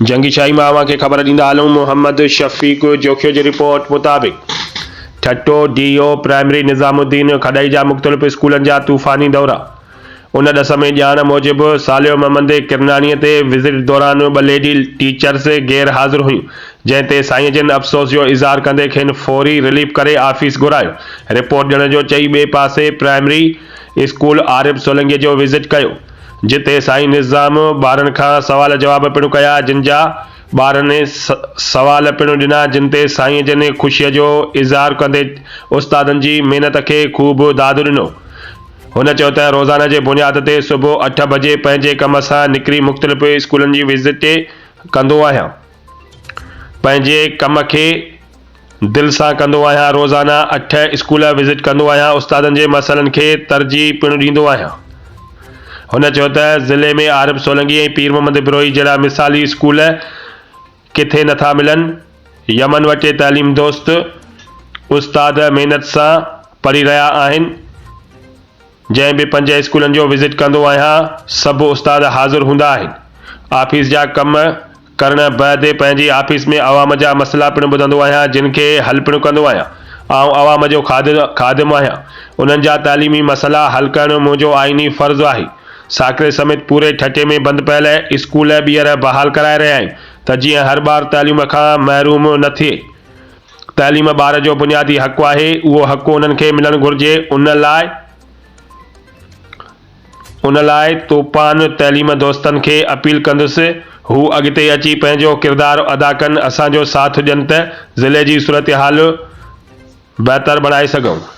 جنگي شاهي مان اوهان کي خبر ڏيندا هلون محمد شفيق جوکيو جي رپورٽ مطابق Thatta D O primary Nizamuddin کڏئي جا مختلف اسڪولن جا طوفاني دورا ان ڏس ۾ ڄاڻ موجب ساليو محمد ڪرناڻي تي وزٽ دوران ٻه ليڊي ٽيچرس غير حاضر هيون جنهن تي سائين جن افسوس جو اظهار ڪندي کين فوري رليف ڪري آفيس گهرايو رپورٽ ڏيڻ جو چئي ٻئي پاسي پرائمري اسڪول عارب سولنگي جو وزٽ ڪيو جتي سائين نظام ٻارن کان سوال جواب پڻ ڪيا جن جا ٻارن سوال پڻ ڏنا جن تي سائين جن خوشي جو اظهار ڪندي استادن جي محنت کي خوب داد ڏنو هن چيو ته روزانه جي بنياد تي صبح اٺ بجي پنهنجي ڪم سان نڪري مختلف اسڪولن جي وزٽ ڪندو آهيان. پنهنجي ڪم کي دل سان ڪندو آهيان روزانه اٺ اسڪول وزٽ ڪندو آهيان استادن جي مسئلن کي ترجيح پڻ ڏيندو آهيان هن چيو ته ضلعي ۾ عارب سولنگي ۽ پير محمد بروهي جهڙا مثالي اسڪول ڪٿي نٿا ملن يمن وٽي تعليم دوست استاد محنت سان پڙهي رهيا آهن جنهن به پنج اسڪولن جو وزٽ ڪندو آهيان سڀ استاد حاضر هوندا آهن آفيس جا ڪم ڪرڻ بعد پنهنجي آفيس ۾ عوام جا مسئلا پڻ ٻڌندو آهيان جن کي حل پڻ ڪندو آهيان آئون عوام جو خادم آهيان انهن جا تعليمي مسئلا حل ڪرڻ منهنجو آئيني فرض آهي ساڪري سميت پوري ٺٽي ۾ بند پيل اسڪول ٻيهر بحال ڪرائي رهيا آهيون ته جيئن هر ٻار تعليم کان محروم نه ٿئي. تعليم ٻار جو بنيادي حق آهي، اهو حق انهن کي ملڻ گهرجي، ان لاء ان لاء توپان تعليم دوستن کي اپيل ڪندس هو اڳتي اچي پنهنجو ڪردار ادا ڪن، اسان جو ساٿ ڏين ته ضلعي جي صورتحال بهتر بڻائي سگهون.